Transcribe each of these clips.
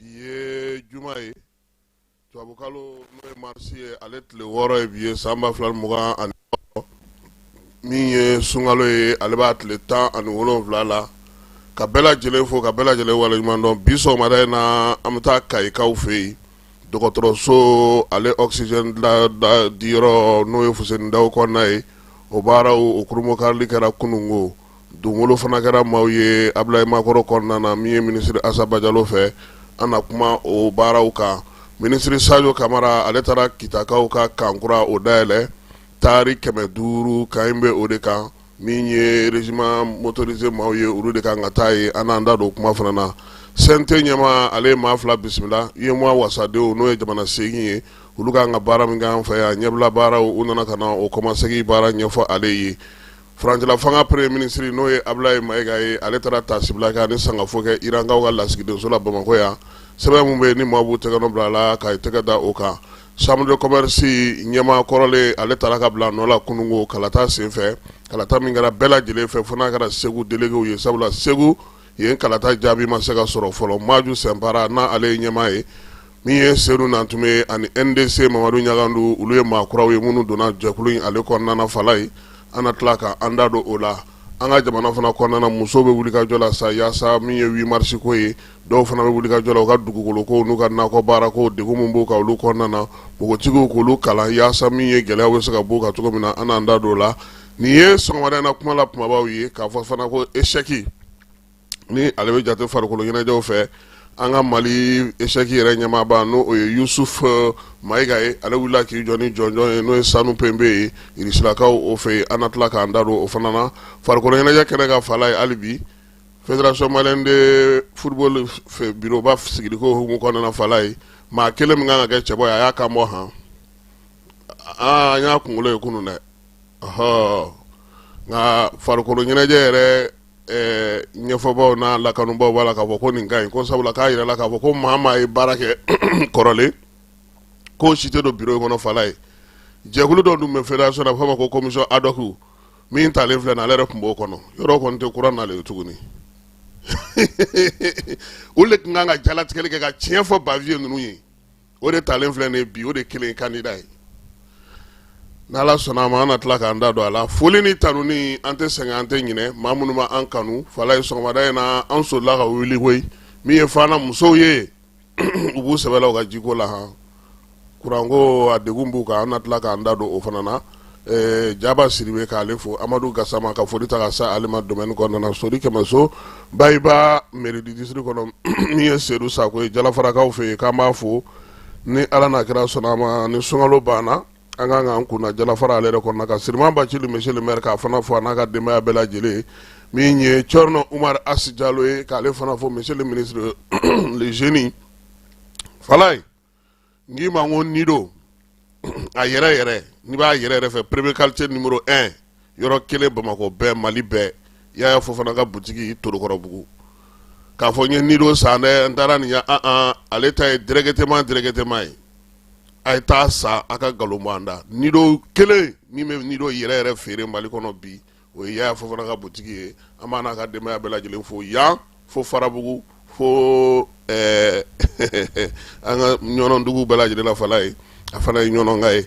bi ye juma ye tubabukalo n'o ye marisi ye ale tile wɔɔrɔ ye bi ye san ba fila ni mugan ani wɔɔrɔ min ye sunkalo ye ale b'a tile tan ani wolonwula la ka bɛɛ lajɛlen fo ka bɛɛ lajɛlen waleɲuman dɔn bi sɔgɔmada in na an bɛ taa Kayikaw fɛ yen dɔgɔtɔrɔso ale oxygène diyɔrɔ n'o ye Fuseni Dawu kɔnɔna ye o baaraw o kurunbonkarili kɛra kununko donkolon fana kɛra maaw ye Abilayi Makɔrɔ kɔnɔna na min ye minisiri Asa Bajalo fɛ an na kuma o baaraw kan minisiri Sajo Kamara ale taara Kitakaw ka kan kura o dayɛlɛ taari kɛmɛ duuru kan in bɛ o de kan min ye régiment motorisé maaw ye olu de kan ka taa ye an n'an da don o kuma fana na CNT ɲɛmaa ale ye maa fila bisimila UEMOA wasadenw n'o ye jamana segin ye olu kan ka baara min k'an fɛ yan ɲɛbila baaraw u nana ka na o kɔmasegin baara ɲɛfɔ ale ye Furancɛla fanga premier ministre n'o ye Abulayi Mayiga ye, ale taara taasibila kɛ ani sangafo kɛ Irankaw ka lasigidenso la Bamakɔ yan, sɛbɛn min bɛ yen ni maaw b'u tɛgɛ nɔ bila a la k'a tɛgɛ da o kan, chambre de commerce ɲɛmaa kɔrɔlen ale tara ka bila a nɔ la kununko kalata senfɛ, kalata min kɛra bɛɛ lajɛlen fɛ fo n'a kɛra Segu delegew ye sabula Segu yen kalata jaabi ma se ka sɔrɔ fɔlɔ, Maju Sɛnpara n'ale ye ɲɛmaa ye min ye Sedu Nantume ani NDC Mamadu Ɲangadu olu ye maa kuraw ye minnu donna jɛkulu in ale kɔnɔna fala ye an na tila ka an da don o la an ka jamana fana kɔnɔna musow bɛ wulikajɔ la sa yaasa min ye huit mars ko ye dɔw fana bɛ wulikajɔ la u ka dugukolokow n'u ka nakɔ baara ko degun min b'u kan olu kɔnɔna na npogotigiw k'olu kalan yaasa min ye gɛlɛya bɛ se ka bɔ u kan cogo min na an n'an da don o la nin ye sɔgɔmada in na kuma la kumabaw ye k'a fɔ fana ko eseki ni ale bɛ jate farikolo ɲɛnajɛw fɛ an ka mali eseki yɛrɛ ɲɛmaaba n'o o ye Yusuf eh, Mayiga ye ale wulila k'i jɔ ni jɔnjɔn ye n'o ye sanu pembe ye Irisilakaw o fɛ yen an na tila k'an da don o fana na farikolo ɲɛnajɛ kɛnɛ kan fala ye hali bi federation malien de football fɛ biroba sigiliko hukumu kɔnɔna fala ye maa kelen min kan ka kɛ cɛbɔ ye a y'a kan bɔ han aa an y'a kunkolo ye kunun dɛ ɔhɔ nka farikolo ɲɛnajɛ yɛrɛ ɛɛ ɲɛfɔbaaw n'a lakanubaaw b'a la k'a fɔ ko nin ka ɲi ko sabula k'a jirala k'a fɔ ko maa maa ye baara kɛ kɔrɔlen k'o si tɛ don biro in kɔnɔ fala ye jɛkulu dɔ dun bɛ federation na a bɛ fɔ a ma ko commission ad hoc min talen filɛ nin ale yɛrɛ tun b'o kɔnɔ yɔrɔ kɔni tɛ kura n'ale ye tuguni olu de tun kan ka jalatigɛli kɛ ka tiɲɛ fɔ Baviye ninnu ye o de talen filɛ nin bi o de kelen kandida ye n'Ala sɔnna a ma an na tila k'an da don a la foli ni tanuni an tɛ sɛgɛn an tɛ ɲinɛ maa minnu ma an kanu fala ye sɔgɔmada in na an sola ka wuli koyi min ye fana musow ye u b'u sɛbɛ la u ka jiko la hɔn kuranko a degun b'u kan an na tila k'an da don o fana na jaba siribe k'ale fo amadu gasama ka foli ta ka sa ale ma domaine kɔnɔna sori kɛmɛso bayiba mairie du district kɔnɔ min ye sedu sakɔ ye jalafarakaw fɛ yen k'an b'a fo ni ala n'a kira sɔnna a ma ni sunkalo banna an ka k'an kun da jalafara ale yɛrɛ kɔnɔna kan sirima bacili monsieur le maire k'a fana fo n'a ka denbaya bɛɛ lajɛlen min ye cɔrɔnɔ umaru asi jalo ye k'ale fana fo monsieur le ministre le génie falaye n k'i ma n ko nido a yɛrɛ yɛrɛ n'i b'a yɛrɛ yɛrɛ fɛ premier quartier numéro 1 yɔrɔ kelen bamakɔ bɛɛ mali bɛɛ yaya fofana ka butigi torokɔrɔbugu k'a fɔ n ye nido san dɛ n taara nin ya an an ale ta ye directement directement ye a ye taa sa a ka nkalon bɔ an da nido kelen min bɛ nido yɛrɛ yɛrɛ feere mali kɔnɔ bi o ye yaya fofana ka butigi ye an b'a n'a ka denbaya bɛɛ lajɛlen fo yan fo farabugu fo an ka ɲɔnɔndugu bɛɛ lajɛlen la falaye a fana ye ɲɔnɔnka ye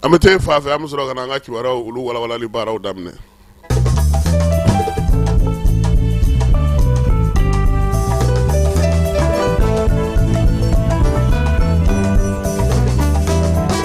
an bɛ taa fa fɛ an bɛ sɔrɔ ka na an ka kibaruya olu walawalali baaraw daminɛ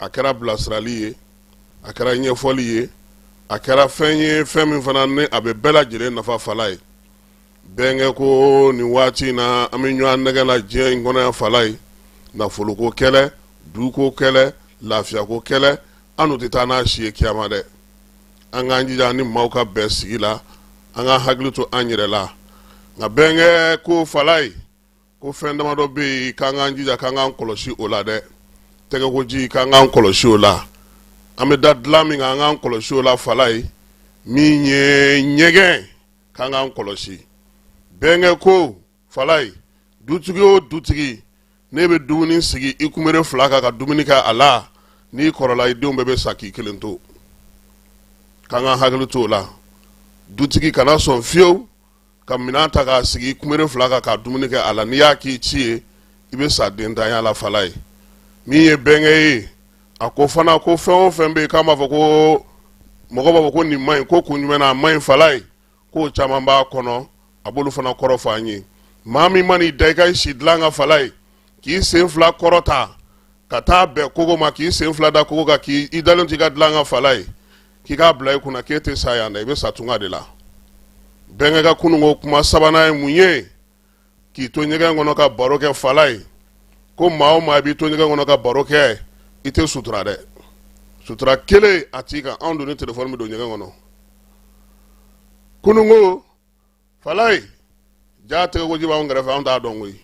a kɛra bilasirali ye a kɛra ɲɛfɔli ye a kɛra fɛn ye fɛn min fana ni a bɛ bɛɛ lajɛlen nafa falaye bɛnkɛ ko nin waati in na an bɛ ɲɔgɔn nɛgɛ la diɲɛ in kɔnɔ yan falaye nafoloko kɛlɛ duko kɛlɛ lafiyako kɛlɛ an tɛ taa n'a si ye kiyama dɛ an k'an jija ni maaw ka bɛn sigi la an ka hakili to an yɛrɛ la nka bɛnkɛ ko falaye ko fɛn damadɔ bɛ yen k'an k'an jija k'an k'an kɔlɔsi o la dɛ tɛgɛkoji k'an k'an kɔlɔsi o la an bɛ da dilan min kan an k'an kɔlɔsi o la falaye min ye ɲɛgɛn k'an k'an kɔlɔsi bɛnkɛ ko falaye dutigi o dutigi n'i bɛ dumuni sigi i kunbere fila kan ka dumuni kɛ a la n'i kɔrɔla i denw bɛɛ bɛ sa k'i kelen to k'an k'an hakili to o la dutigi kana sɔn fiyewu ka minɛn ta k'a sigi i kunbere fila kan ka dumuni kɛ a la n'i y'a k'i ci ye i bɛ sa dentanya la falaye min ye bɛnkɛ ye a ko fana ko fɛn o fɛn bɛ yen k'an b'a fɔ ko mɔgɔ b'a fɔ ko nin man ɲi ko kun jumɛn na a man ɲi falaye k'o caman b'a kɔnɔ a b'olu fana kɔrɔ fɔ an ye maa min man'i da i ka si dilan kan falaye k'i sen fila kɔrɔta ka taa bɛn kogo ma k'i sen fila da kogo kan k'i dalen t'i ka dilan kan falaye k'i k'a bila i kunna k'e tɛ sa yan dɛ i bɛ sa tunga de la bɛnkɛ ka kununko kuma sabanan ye mun ye k'i to ɲɛgɛn kɔnɔ ka baro kɛ falaye ko maa o maa b'i to ɲɛgɛn kɔnɔ ka baro kɛ i tɛ sutura dɛ sutura kelen a t'i kan anw dun ni telefɔni bɛ don ɲɛgɛn kɔnɔ kununko falayi jaa tɛgɛkoji b'anw kɛrɛfɛ anw t'a dɔn koyi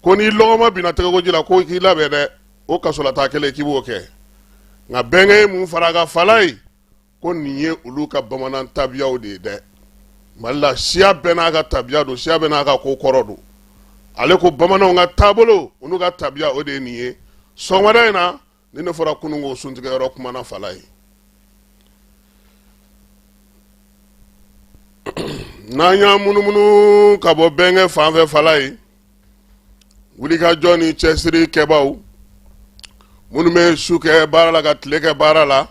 ko n'i lɔgɔma binna tɛgɛkoji la ko k'i labɛn dɛ o kasolataa kelen k'i b'o kɛ nka bɛnkɛ ye mun fara a kan falayi ko nin ye olu ka bamanan tabiyaw de ye dɛ mali la siya bɛɛ n'a ka tabiya don siya bɛɛ n'a ka ko kɔrɔ don ale ko bamananw ka taabolo olu ka tabiya o de ye nin ye sɔgɔmada in na ni ne bɔra kunun ko suntigɛ yɔrɔ kuma na falayi n'an y'an munumunu ka bɔ bɛnkɛ fan fɛ falayi wulikajɔ ni cɛsiri kɛbaaw minnu bɛ su kɛ baara la ka tile kɛ baara la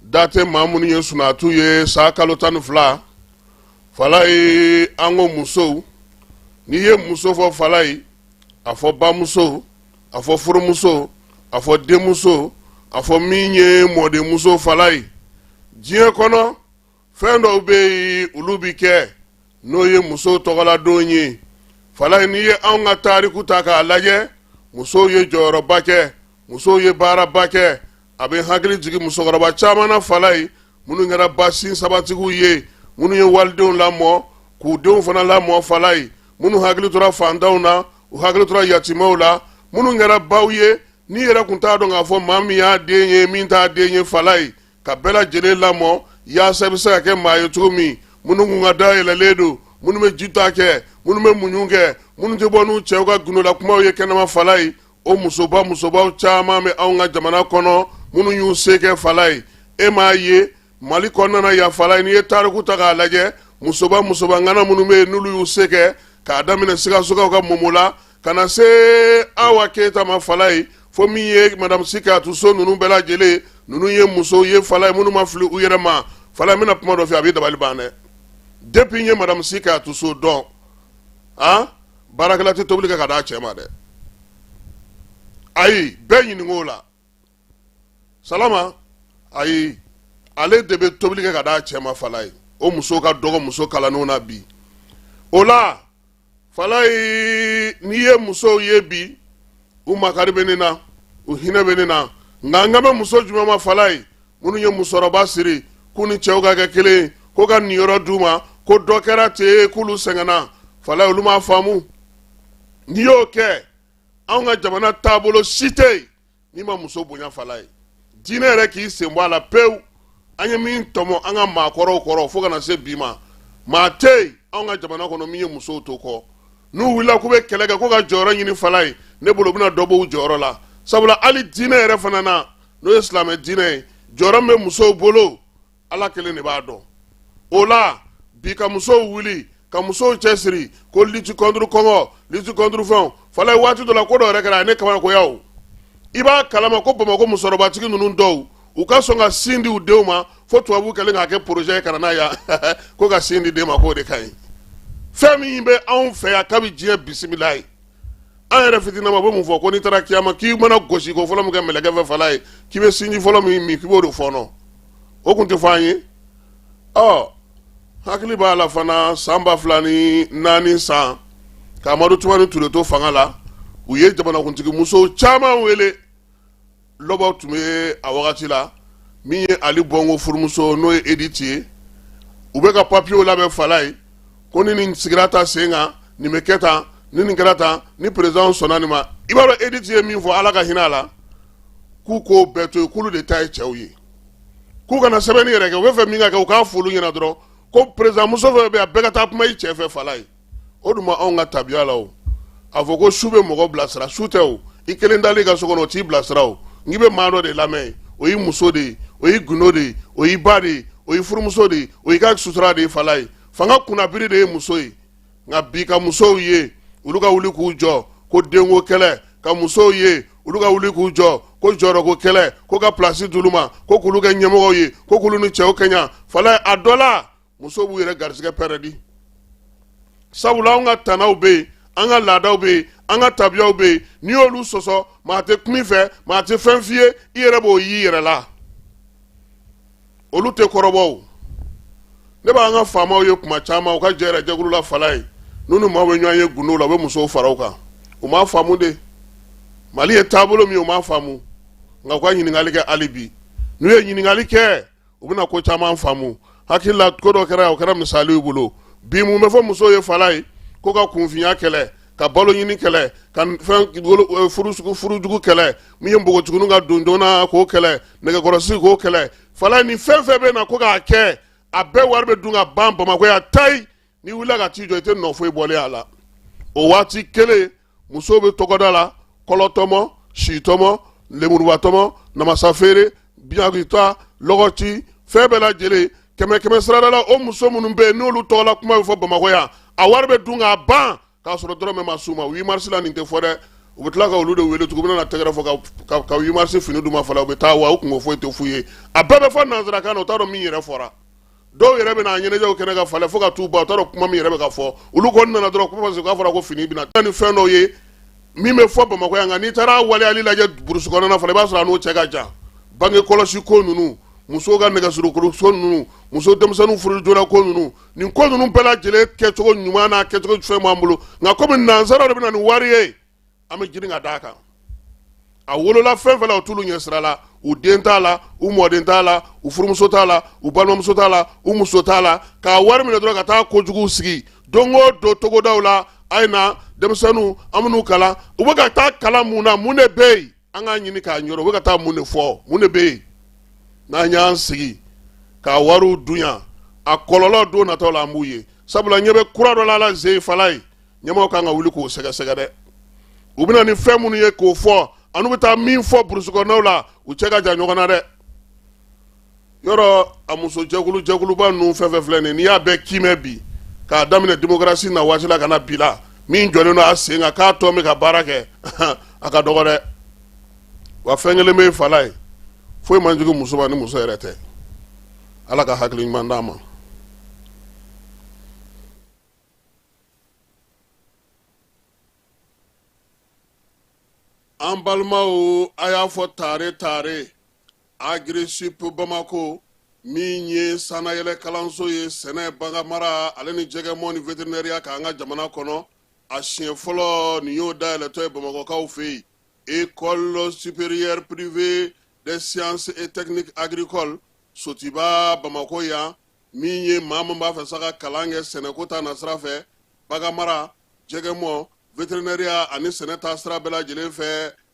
da tɛ maa minnu ye sunatu ye san kalo tan ni fila falayi an ko musow n'i ye muso fɔ falayi a fɔ bamuso a fɔ furumuso a fɔ denmuso a fɔ min ye mɔdenmuso falayi diɲɛ kɔnɔ fɛn dɔw bɛ yen olu bɛ kɛ n'o ye muso tɔgɔladon ye falayi n'i ye anw ka tariku ta k'a lajɛ musow ye jɔyɔrɔba kɛ musow ye baaraba kɛ a bɛ hakili jigin musokɔrɔba caman na falayi minnu kɛra ba sinsabatigiw ye minnu ye walidenw lamɔ k'u denw fana lamɔ falayi minnu hakili tora fantanw na u hakili tora yatimaw la minnu kɛra baw ye n'i yɛrɛ kun t'a dɔn k'a fɔ maa min y'a den ye min t'a den ye falayi ka bɛɛ lajɛlen lamɔ yaasa i bɛ se ka kɛ maa ye cogo min minnu kun ka da yɛlɛlen don minnu bɛ ji ta kɛ minnu bɛ muɲu kɛ minnu tɛ bɔ n'u cɛw ka gundola kumaw ye kɛnɛma falayi o musoba musobaw caman bɛ anw ka jamana kɔnɔ minnu y'u se kɛ falayi e m'a ye mali kɔnɔna yan falayi n'i ye tariku ta k'a lajɛ musoba musoba ŋana minnu bɛ yen n'olu y'u se kɛ k'a daminɛ sikasokaw ka momo la ka na se awa keyita ma falayi fo min ye madamu si kajatu so ninnu bɛɛ lajɛlen ninnu ye musow ye falayi minnu ma fili u yɛrɛ ma falayi n bɛna kuma dɔ f'i ye a b'i dabali ban dɛ depi n ye madamu si kajatu so dɔn a baarakɛla tɛ tobili kɛ ka d'a cɛ ma dɛ ayi bɛɛ ɲininka o la salama ayi ale de bɛ tobili kɛ ka d'a cɛ ma falayi o muso ka dɔgɔ muso kalannenw na bi o la falayi n'i ye musow ye bi u makari bɛ ne na u hinɛ bɛ ne na nka n kan bɛ muso jumɛn ma falayi minnu ye musɔrɔba siri k'u ni cɛw ka kɛ kelen ye ko ka niyɔrɔ d'u ma ko dɔ kɛra ten k'olu sɛgɛnna falayi olu m'a faamu n'i y'o kɛ anw ka jamana taabolo si tɛ yen n'i ma muso bonya falayi diinɛ yɛrɛ k'i sen bɔ a la pewu an ye min tɔmɔ an ka maakɔrɔw kɔrɔ fo ka na se bi ma maa tɛ yen anw ka jamana kɔnɔ min ye musow to kɔ n'u wulila k'u bɛ kɛlɛ kɛ ko ka jɔyɔrɔ ɲini falayi ne bolo u bɛna dɔ b'u jɔyɔrɔ la sabula hali diinɛ yɛrɛ fana na n'o ye silamɛ diinɛ ye jɔyɔrɔ min bɛ musow bolo ala kelen de b'a dɔn o la bi ka musow wuli ka musow cɛsiri ko lutte contre kɔngɔ lutte contre fɛnw fala ye waati dɔ la ko dɔ yɛrɛ kɛra ne kabakoya o i b'a kalama ko bamakɔ musɔrɔbatigi ninnu dɔw u ka sɔn ka sin di u denw ma fo tubabu kɛlen k'a kɛ porozɛ ye ka na n'a ye ko ka sin di den ma k'o de ka ɲi fɛn min bɛ anw fɛ yan kabi diɲɛ bisimila ye an yɛrɛ fitinama bɛ mun fɔ ko n'i taara kiyama k'i mana gosi ko fɔlɔ min kɛ mɛlɛkɛ fɛ fala ye k'i bɛ sinji fɔlɔ min min k'i b'o de fɔɔnɔ o tun tɛ fɔ an ye ɔ hakili b'a la fana san ba fila ni naani san ka amadu tumani ture to fanga la u ye jamanakuntigi musow caman wele lɔbɔ tun bɛ a wagati la min ye ali bɔngo furumuso n'o ye editi ye u bɛ ka papiyew labɛn fala ye ko ni nin sigira ta sen kan nin bɛ kɛ tan ni nin kɛra tan ni perezidan sɔnna nin ma i b'a dɔn editi ye min fɔ ala ka hinɛ a la k'u k'o bɛɛ to yen k'olu de ta ye cɛw ye k'u kana sɛbɛnni yɛrɛ kɛ u bɛ fɛ min ka kɛ u k'a f'olu ɲɛna dɔrɔn ko perezidanmuso fɛn bɛ a bɛɛ ka taa kuma i cɛ fɛ fala ye o tuma anw ka tabiya la o a fɔ ko su bɛ mɔgɔ bilasira su tɛ o i kelen dalen i ka so kɔnɔ o t'i bilasira o n'i bɛ maa dɔ de lamɛn o y'i muso de ye o y'i gundo de ye o y'i ba de ye o y'i furumuso de ye o y'i ka sutura de ye fala ye fanga kunnabiri de ye muso ye nka bi ka musow ye olu ka wuli k'u jɔ ko denko kɛlɛ ka musow ye olu ka wuli k'u jɔ ko jɔyɔrɔko kɛlɛ ko ka pilasi d'olu ma ko k'olu kɛ ɲɛmɔgɔw ye ko k'olu ni cɛw kɛɲa fala ye a dɔ la musow b'u yɛrɛ garisɛgɛ pɛrɛdi sabula anw ka tanaw bɛ yen an ka laadaw bɛ yen an ka tabiyaw bɛ yen n'i y'olu sɔsɔ maa tɛ kuma i fɛ maa tɛ fɛn f'i ye i yɛrɛ b'o y'i yɛrɛ la olu tɛ kɔrɔbɔ o ne b'an ka faamaw ye kuma caman u ka jɛ yɛrɛ jɛkulu la fala ye n'u ni maaw bɛ ɲɔgɔn ye gundow la u bɛ musow fara u kan u m'a faamu de mali ye taabolo min ye u m'a faamu nka u ka ɲininkali kɛ hali bi n'u ye ɲininkali kɛ u bɛna ko caman faamu hakili la ko dɔ kɛra o kɛra misali y'u bolo bi mun bɛ fɔ muso ye fala ye ko ka kunfinya kɛlɛ ka balo ɲini kɛlɛ ka fɛn furujugu kɛlɛ min ye npogotigininw ka don joona k'o kɛlɛ nɛgɛkɔrɔsigi k'o kɛlɛ fala ye ni fɛn fɛn bɛ na ko k'a kɛ a bɛɛ wari bɛ dun ka ban bamakɔ yan tayi n'i wulila ka t'i jɔ i tɛ nɔ foyi bɔlen a la o waati kelen musow bɛ tɔgɔda la kɔlɔtɔmɔ sitɔmɔ lemurubatɔmɔ namasafeere buyagita lɔgɔci fɛn bɛɛ lajɛlen kɛmɛkɛmɛsarada la o muso minnu bɛ yen n'olu tɔgɔla kuma bɛ fɔ bamakɔ yan a wari bɛ dun k'a ban k'a sɔrɔ dɔrɔmɛ ma s'u ma huit mars la nin tɛ fɔ dɛ u bɛ tila ka olu de wele tugun u bɛna na tɛgɛrɛ fɔ ka ka huit mars fini d'u ma fɔlɔ u bɛ taa wa u kunko foyi tɛ f'u ye a bɛɛ bɛ fɔ nansarakan na u t'a dɔn min yɛrɛ fɔra dɔw yɛrɛ bɛna a ɲɛnajɛw kɛnɛ ka falen fo ka t'u ban u t'a dɔn kuma min yɛrɛ bɛ ka fɔ olu kɔni nana dɔrɔn kuma k'a fɔra ko fini bɛna taa ni fɛn dɔw ye min bɛ fɔ bamakɔ yan nka n'i taara waleyali lajɛ burusi kɔnɔna fana i b'a sɔrɔ a n'o cɛ ka jan bange kɔlɔsi ko ninnu musow ka nɛgɛkɔrɔsigi ko ninnu muso denmisɛnninw furu joona ko ninnu nin ko ninnu bɛɛ lajɛlen kɛcogo ɲuman n'a kɛcogo fɛn b'an bolo nka komi nansaraw de bɛ na ni wari ye an bɛ girin ka d'a kan a wolola fɛn fɛn la o t'olu ɲɛ sira la u den t'a la u mɔden t'a la u furumuso t'a la u balimamuso t'a la u muso t'a la k'a wari minɛ dɔrɔn ka taa kojuguw sigi don o don togodaw la a ye na denmisɛnninw an minnu kalan u bɛ ka taa kalan mun na mun de bɛ yen an k'a ɲini k'a ɲɔrɔ u bɛ ka taa mun de fɔ mun de bɛ yen n'an y'an sigi k'a wariw dun yan a kɔlɔlɔ don nataw la an b'u ye sabula ɲɛ bɛ kura dɔ la alaji falayi ɲɛmɔgɔw ka kan ka wuli k'o sɛgɛsɛgɛ dɛ u bɛ na ni fɛn minnu ye k'o fɔ ani u bɛ taa min fɔ burusi kɔnɔnaw la u cɛ ka jan ɲɔgɔn na dɛ yɔrɔ a musojɛkulu jɛkuluba ninnu fɛn fɛn filɛ nin n'i y'a bɛɛ kiimɛ bi k'a daminɛ démocratie na waati la ka na bi la min jɔlen don a sen kan k'a tɔ bɛ ka baara kɛ a ka dɔgɔ dɛ wa fɛn kelen bɛ falayi foyi man jugu muso ma ni muso yɛrɛ tɛ ala ka hakili ɲuman d'a ma an balimaw a y'a fɔ tare tare agirisup bamakɔ min ye sannayɛlɛ kalanso ye sɛnɛ baganmara ale ni jɛgɛmɔ ni veterinɛriya kan an ka jamana kɔnɔ a siɲɛ fɔlɔ nin y'o dayɛlɛtɔ ye bamakɔkaw fɛ yen école supérieure privée des sciences et techniques agricoles sotiba bamakɔ yan min ye maa min b'a fɛ sa ka kalan kɛ sɛnɛko ta nasira fɛ baganmara jɛgɛmɔ veterinɛriya ani sɛnɛ ta sira bɛɛ lajɛlen fɛ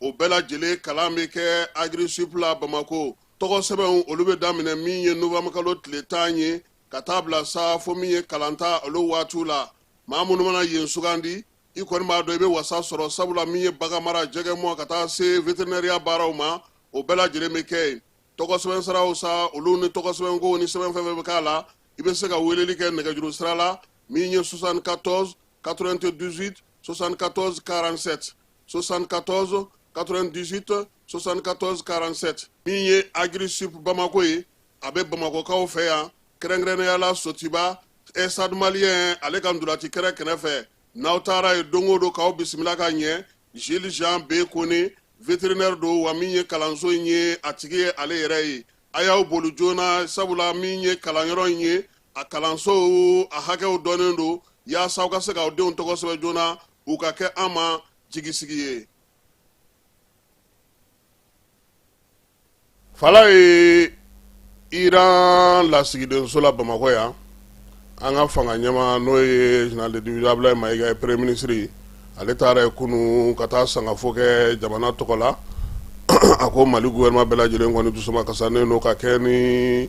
o bɛɛ lajɛlen kalan bɛ kɛ agirisup la bamakɔ tɔgɔ sɛbɛnw olu bɛ daminɛ min ye nowanburukalo tile tan ye ka taa bila sa fo min ye kalanta olu waatiw la maa minnu mana yen sugandi i kɔni b'a dɔn i bɛ wasa sɔrɔ sabula min ye baganmara jɛgɛmɔ ka taa se veterinɛriya baaraw ma o bɛɛ lajɛlen bɛ kɛ yen tɔgɔ sɛbɛn siraw sa olu ni tɔgɔ sɛbɛnko ni sɛbɛn fɛn fɛn bɛ k'a la i bɛ se ka weleli kɛ nɛgɛjuru sira la min ye 74 98 74 47 74 98 74 47 min ye agirisup bamakɔ ye a bɛ bamakɔkaw fɛ yan kɛrɛnkɛrɛnnenya la sotiba stade malien ale ka ntolaci kɛrɛ kɛnɛ fɛ n'aw taara yen don o don k'aw bisimila ka ɲɛ jules jean b kone veterinɛri don wa min ye kalanso in ye a tigi ye ale yɛrɛ ye a y'aw boli joona sabula min ye kalanyɔrɔ in ye a kalansow a hakɛw dɔnnen don yaasa aw ka se k'aw denw tɔgɔ sɛbɛn joona u ka kɛ an ma jigisigi ye fala ye iran lasigidenso la bamakɔ yan an ka fanga ɲɛmaa n'o ye général de division Abdoulaye Mayiga premier ministre ale taara yen kunun ka taa sangafo kɛ jamana tɔgɔ la a ko mali gouvernement bɛɛ lajɛlen kɔni dusuma kasinen don ka kɛ ni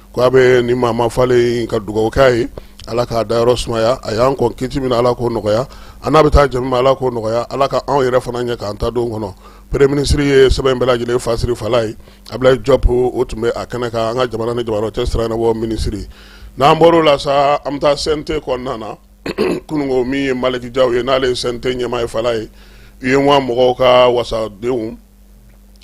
Ko a bɛ ni maa falen ka dugawu k'a ye ala k'a dayɔrɔ sumaya a y'an kɔn kiti min na ala k'o nɔgɔya an n'a bɛ taa jɛ min na ala k'o nɔgɔya ala ka anw yɛrɛ fana ɲɛ k'an ta don kɔnɔ premier ministre ye sɛbɛn in bɛɛ lajɛlen fasiri fala ye Abdoulaye Diop o tun bɛ a kɛnɛ kan an ka jamana ni jamana cɛ sira bɔ minisiri n'an bɔra o la sa an bɛ taa CNT kɔnɔna na kunun min ye Maliki Jaw ye n'ale ye CNT ɲɛmaa ye fala ye UEMOA mɔgɔw ka wasadenw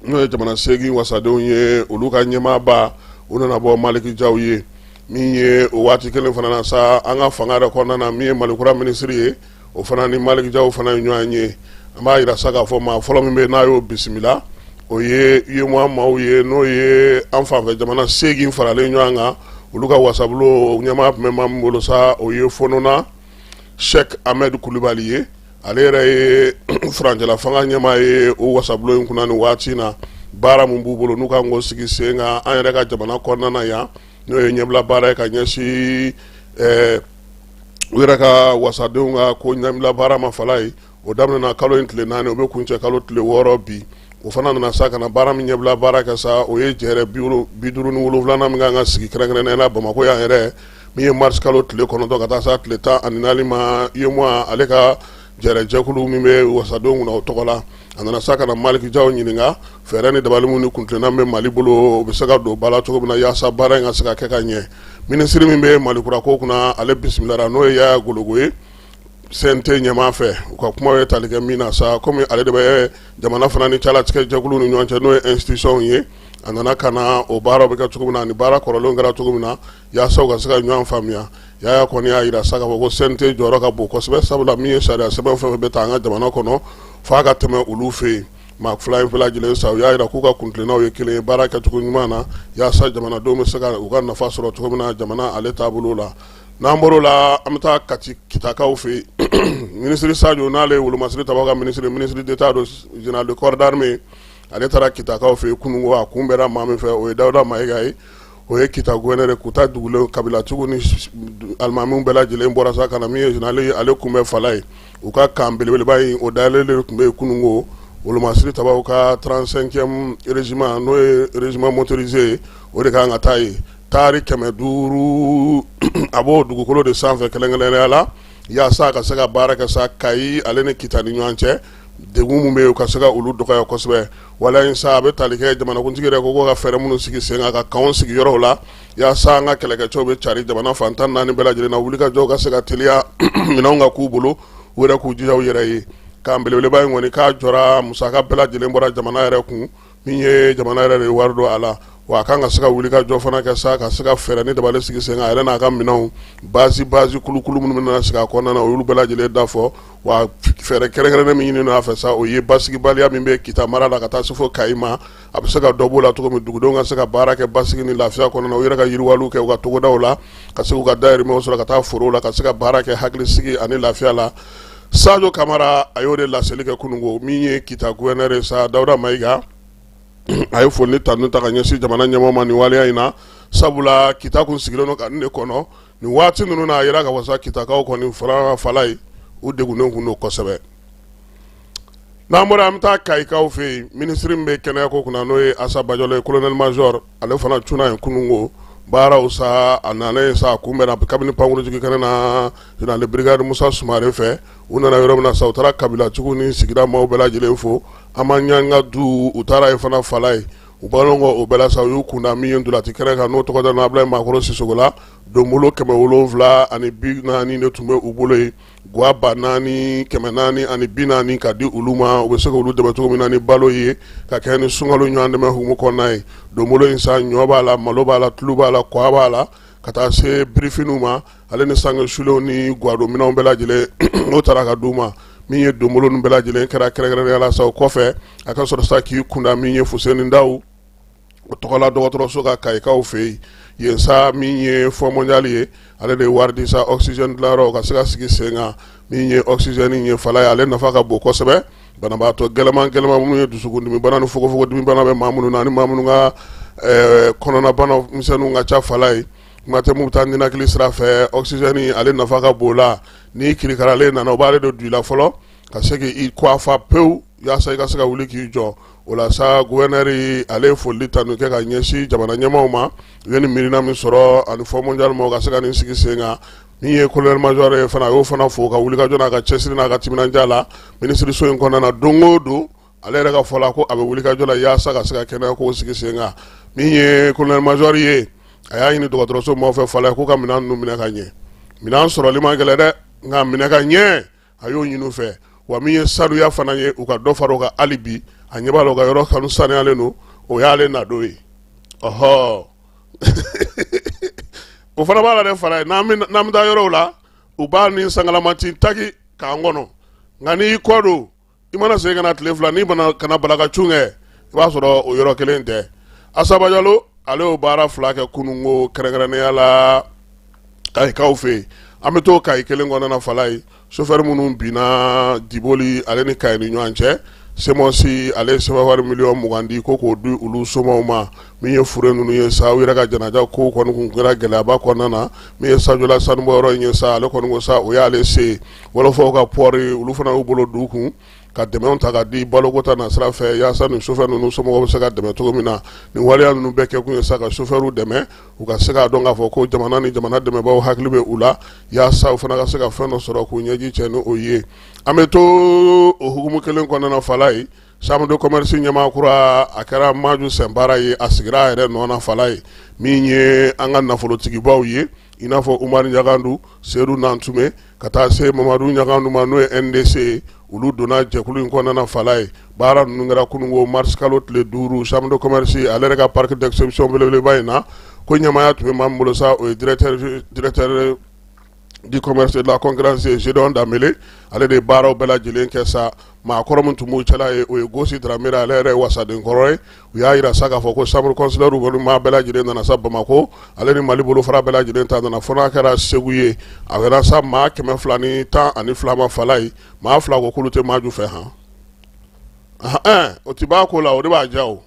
n'o ye jamana seegin wasadenw ye olu ka ɲɛmaaba u nana bɔ maliki jaw ye min ye o waati kelen fana na sa an ka fanga yɛrɛ kɔnɔna na min ye malikura minisiri ye o fana ni maliki jaw fana ye ɲɔgɔn ye an b'a jira sa k'a fɔ maa fɔlɔ min bɛ n'a y'o bisimila o ye UEMOA maaw ye n'o ye an fanfɛ jamana seegin faralen ɲɔgɔn kan olu ka wasabulon ɲɛmaa tun bɛ maa min bolo sa o ye Fononna Cheick Ahmed Coulibaly ye ale yɛrɛ ye furancɛla fanga ɲɛmaa ye o wasabulon in kunna ni waati in na baara min b'u bolo n'u kan k'o sigi sen kan an yɛrɛ ka jamana kɔnɔna na yan n'o ye ɲɛbila baara ye ka ɲɛsin ɛɛ u yɛrɛ ka wasadenw ka ko ɲɛbila baara ma fala ye o daminɛna kalo in tile naani o bɛ kuncɛ kalo tile wɔɔrɔ bi o fana nana sa ka na baara min ɲɛbila baara kɛ sa o ye jɛrɛ bi duuru ni wolonwulanan min kan ka sigi kɛrɛnkɛrɛnnenya la Bamakɔ yan yɛrɛ min ye mars kalo tile kɔnɔntɔn ka taa s'a tile tan ani naani ma UEMOA ale ka jɛrɛ jɛkulu min bɛ wasadenw kunna o tɔgɔ la a nana sa ka na Maliki Jaw ɲininka fɛɛrɛ ni dabali minnu ni kuntilenna bɛ mali bolo u bɛ se ka don ba la cogo min na walasa baara in ka se ka kɛ ka ɲɛ minisiri min bɛ malikura ko kunna ale bisimilala n'o ye Yaya Gologo ye CNT ɲɛmaa fɛ u ka kuma ye tali kɛ min na sa kɔmi ale de bɛ jamana fana ni cɛlatigɛjɛkulu ni ɲɔgɔn cɛ n'o ye institutionw ye a nana ka na o baara bɛ kɛ cogo min na ni baara kɔrɔlen kɛra cogo min na yaasa u ka se ka ɲɔgɔn faamuya yaya kɔni y'a jira sa ko CNT jɔyɔrɔ ka bon kosɛbɛ sabula min ye sariya sɛbɛn fɛn fɛn bɛ ta an ka jamana kɔnɔ f'a ka tɛmɛ olu fɛ yen maa fila in bɛɛ lajɛlen sa u y'a jira k'u ka kuntilenna ye kelen ye baara kɛ cogo ɲuman na yaasa jamanadenw bɛ se ka u ka nafa sɔrɔ cogo min na jamana ale taabolo la n'an bɔr'o la an bɛ taa ka kitakaw fɛ yen minisiri sajo n'ale ye wolomasiri tabaaw ka minisiri minisiri d'État don général de corps d'armée ale taara kitakaw fɛ yen kununko a kunbɛnna maa min fɛ o ye dawuda mayiga ye o ye kita gouverneur kita dugulen kabilatigiw ni alimamiw bɛɛ lajɛlen bɔra sa ka na min ye général ye ale kunbɛn fala ye u ka kan belebeleba in o dayɛlɛ de tun bɛ yen kununko wolomasiri tabaaw ka trente-cinquième régiment n'o ye régiment motorisé ye o de kan ka taa ye taari kɛmɛ duuru a b'o dugukolo de sanfɛ kɛrɛnkɛrɛnnenya la yaasa a ka se ka baara kɛ sa kayi ale ni kita ni ɲɔgɔn cɛ degun minnu bɛ yen u ka se ka olu dɔgɔya kosɛbɛ waleya in sa a bɛ tali kɛ jamanakuntigi yɛrɛ ko ka fɛɛrɛ minnu sigi sen kan ka kanw sigi yɔrɔw la yaasa an ka kɛlɛkɛcɛw bɛ cari jamana fan tan naani bɛɛ lajɛlen na wulikajɔw ka se ka teliya minɛnw ka k'u bolo u yɛrɛ k'u jija u yɛrɛ ye kan belebeleba in kɔni k'a jɔra musaka bɛɛ lajɛlen bɔra jamana yɛrɛ kun min ye jamana yɛrɛ de wari don a la wa a kan ka se ka wulikajɔ fana kɛ sa ka se ka fɛɛrɛ ni dabali sigi sen kan a yɛrɛ n'a ka minɛnw basi basi kulukulu minnu bɛna sigi a kɔnɔna na olu bɛɛ lajɛlen da fɔ wa fɛɛrɛ kɛrɛnkɛrɛnnen min ɲinin'a fɛ sa o ye basigibaliya min bɛ kita mara la ka taa se fo kayi ma a bɛ se ka dɔ b'o la cogo min dugudenw ka se ka baara kɛ basigi ni lafiya kɔnɔ u yɛrɛ ka yiriwaliw kɛ u ka togodaw la ka se k'u ka dahirimɛ sɔrɔ ka taa foro la ka se ka baara kɛ hakilisigi ani lafiya la Sajo kamara a y'o de laseli kɛ kununko min ye kita gouverneur ye sa dawuda mayiga a ye foli ni tanu ta ka ɲɛsin jamana ɲɛmɔgɔ ma nin waleya in na sabula kita kun sigilen don ka nin de kɔnɔ nin waati ninnu na a jira k'a fɔ sa kitakaw kɔni farafala ye u degunnen kun don kosɛbɛ n'an bɔra an bɛ taa kayikaw fɛ yen minisiri min bɛ kɛnɛyako kunna n'o ye asa bajalo ye colonel major ale fana cunna yen kununko baaraw sa a nana yen sa a kunbɛnna kabini pankurunjigi kɛnɛ na général de brigade musa sumare fɛ u nana yɔrɔ min na sa u taara kabilatigiw ni sigida maaw bɛɛ lajɛlen fo an ma ɲanga du u taara ye fana fala ye o bannen kɔ o bɛɛ la sa u y'u kun da min ye ntolaci kɛnɛ kan n'o tɔgɔ dalen abulayi makɔrɔ sisɔkɔ la donbolo kɛmɛ wolonwula ani bi naani de tun bɛ u bolo yen Gwa ba naani kɛmɛ naani ani bi naani ka di olu ma u bɛ se k'olu dɛmɛ cogo min na ni balo ye ka kɛɲɛ ni sunkalo ɲɔgɔn dɛmɛ hukumu kɔnɔna ye donbolo in sa ɲɔ b'a la malo b'a la tulu b'a la kwa b'a la ka taa se birifiniw ma ale ni sange sulenw ni gwadonminɛnw bɛɛ lajɛlen n'o tara ka d'u ma min ye donbolo in bɛɛ lajɛlen kɛra kɛrɛnkɛrɛnnenya la sa o kɔfɛ a ka sɔrɔ sa k'i kunda min ye fuseni dawu o tɔgɔla dɔgɔtɔrɔso kayikaw fɛ yen sa min ye fonds mondial ye ale de ye wari di sa oksizɛni dilayɔrɔ ka se ka sigi sen kan min ye oksizɛni ye fala ye ale nafa ka bon kosɛbɛ banabaatɔ gɛlɛnman gɛlɛnman minnu ye dusukundimibanaw ni fogonfogondimibana bɛ maa minnu na ni maa minnu ka kɔnɔnabanamisɛnw ka ca fala ye kuma tɛ taa ninakili sira fɛ oksizɛni ale nafa ka bon o la ni kirikaralen nana u b'ale don i la fɔlɔ ka se k'i kofa pewu yaasa i ka se ka wuli k'i jɔ o la sa gouverneur ale ye foli ni tanu kɛ ka ɲɛsin jamana ɲɛmaaw ma u ye nin miirina min sɔrɔ ani fonds mondial ma u ka se ka nin sigi sen kan min ye colonel major ye fana a y'o fana fo a ka wulikajɔ n'a ka cɛsiri n'a ka timinandiya la minisiririso in kɔnɔna na don o don ale yɛrɛ ka fɔ la ko a bɛ wulikajɔ la yaasa ka se ka kɛnɛyako sigi sen kan min ye colonel major ye a y'a ɲini dɔgɔtɔrɔso maaw fɛ fala k'u ka minɛn ninnu minɛ ka ɲɛ minɛn sɔrɔli ma gɛlɛn dɛ nka minɛ ka ɲɛ a y'o ɲini u fɛ wa min ye sanuya fana ye u ka dɔ fara o kan hali bi a ɲɛ b'a la u ka yɔrɔ kanu sanuyalen don o y'ale nadon ye ɔhɔ o fana b'a la de fala ye n'an bɛ taa yɔrɔw la u b'a ni sangalamati taki k'an kɔnɔ nka n'i kɔ don i mana segin ka na tile fila n'i mana ka na balakacun kɛ i b'a sɔrɔ o yɔrɔ kelen tɛ asa bajalo ale y'o baara fila kɛ kununko kɛrɛnkɛrɛnnenya la kayikaw fɛ yen an bɛ to kayi kelen kɔnɔna fala ye sofɛri minnu binna diboli ale ni kayi ni ɲɔgɔn cɛ semɔsi ale ye sefawari miliyɔn mugan di ko k'o di olu somaw ma min ye fure ninnu ye sa u yɛrɛ ka janaja ko kɔni kɛra gɛlɛyaba kɔnɔna na min ye sajola sanubɔ yɔrɔ in ye sa ale kɔni sa o y'ale sen wɔlɔfɔw ka pɔɔri olu fana y'u bolo don u kun ka dɛmɛ ta ka di baloko ta na sira fɛ yaasa ni sofɛ ninnu somɔgɔw bɛ se ka dɛmɛ cogo min na nin waleya ninnu bɛɛ kɛ kun ye sa ka sofɛw dɛmɛ u ka se k'a dɔn k'a fɔ ko jamana ni jamana dɛmɛbaaw hakili bɛ u la yaasa u fana ka se ka fɛn dɔ sɔrɔ k'u ɲɛji cɛ n'o ye an bɛ to o hukumu kelen kɔnɔna fala ye Chambre de commerce ɲɛmaa kura a kɛra Maju Sɛnbara ye a sigira a yɛrɛ nɔ na Fala ye min ye an ka nafolotigibaw ye i n'a fɔ Umaru Ɲangadu, Sedu Nantume ka taa se Mamadu Ɲangadu ma n'o ye NDC ye olu donna jɛkulu in kɔnɔna na Fala ye baara ninnu kɛra kununko mars kalo tile duuru Chambre de commerce ale yɛrɛ ka parc d'exception belebeleba in na ko ɲɛmaaya tun bɛ maa min bolo sa o ye directeur du commerce et de la concurrence Gédéon Dembele ale de ye baaraw bɛɛ lajɛlen kɛ sa maa kɔrɔ min tun b'u cɛla ye o ye Gosi Dramé ale yɛrɛ ye wasaden kɔrɔ ye u y'a jira sa k'a fɔ ko chambre consulaire kɔni maa bɛɛ lajɛlen nana sa Bamako ale ni Mali bolofara bɛɛ lajɛlen ta nana fo n'a kɛra Segu ye a kɛra sa maa kɛmɛ fila ni tan ani fila ma fala ye maa fila ko k'olu tɛ Maju fɛ han ɛn o tɛ bɔ ko la o de b'a diya o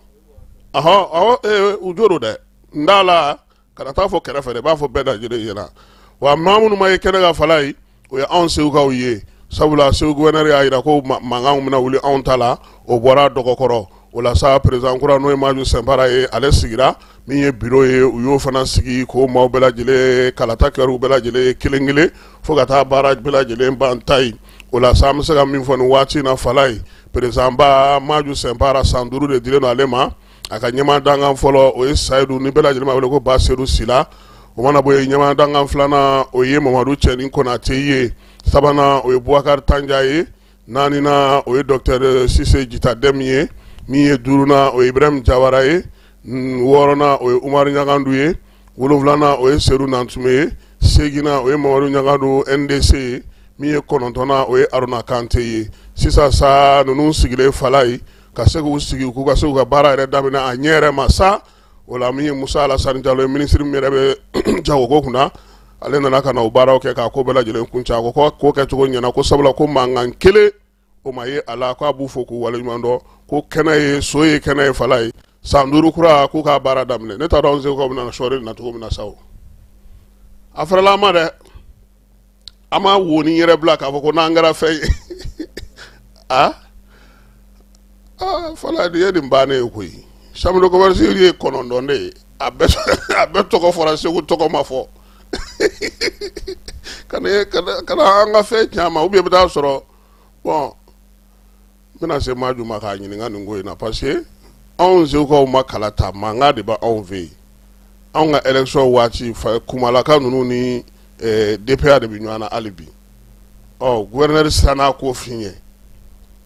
ɔhɔ awɔ ee u jo don dɛ n t'a la kana taa fɔ kɛrɛfɛ dɛ, i b'a fɔ bɛɛ lajɛlen ɲɛna, wa maa minnu ma ye kɛnɛ kan falayi, o ye anw segukaw ye, sabula segu gouverneur y'a jira ko mankanw bɛna wuli anw ta la, o bɔra dɔgɔkɔrɔ, o la sa président kura n'o ye Maju Sɛnpara ye, ale sigira min ye bureau ye, u y'o fana sigi k'o maaw bɛɛ lajɛlen kalata kɛra u bɛɛ lajɛlen ye kelen kelen fo ka taa baara bɛɛ lajɛlen ban ta ye, o la sa an bɛ se ka min fɔ nin waati in na falayi, président ba Maju Sɛnpara san duuru de dilen don ale ma. a ka ɲɛmaa dankan fɔlɔ o ye sayidu ni bɛɛ lajɛlen wele ko ba sedu sila o mana bɔ yen ɲɛmaa dankan filanan o ye mamadu cɛni konatɛ ye sabanan o ye bubakari tanja ye naaninan o ye docteur sise jita dɛmu ye min ye duurunan o ye ibrahimu jawara ye wɔɔrɔnan o ye umaru ɲangadu ye wolonfilanan o ye sedu nantumɛ ye seginnan o ye mamadu ɲangadu NDC ye min ye kɔnɔntɔnnan o ye aruna kante ye sisan sa ninnu sigilen falayi ka se k'u sigi k'u ka se u ka baara yɛrɛ daminɛ a ɲɛ yɛrɛ ma sa o la min ye musa alasan jalo ye minisiri min yɛrɛ bɛ jagoko kunna ale nana ka na o baaraw kɛ k'a ko bɛɛ lajɛlen kuncɛ ko ko kɛcogo ɲɛna ko sabula ko mankan kelen o ma ye a la k'a b'u fo k'u waleɲuman dɔn ko kɛnɛ ye so ye kɛnɛ ye falayi san duuru kura k'u ka baara daminɛ ne t'a dɔn segukaw bɛna sɔɔri na cogo min na sa o a fɛrɛla an ma dɛ an ma wonin yɛrɛ bila k'a fɔ ko n'an kɛra fɛn ye a fala de ye nin bannen ye koyi chambre de commerce ye kɔnɔntɔn de ye a bɛɛ tɔgɔ fɔra segu tɔgɔ ma fɔ kana an ka fɛn caman u bɛ bɛ taa sɔrɔ bon n bɛna se maju ma k'a ɲininka nin ko in na parce que anw segukaw ma kala ta mankan de bɛ anw fɛ yen anw ka élection waati fa kumalaka ninnu ni eh, DPA de bɛ ɲɔgɔn na hali bi gouverneur siranna ko in ɲɛ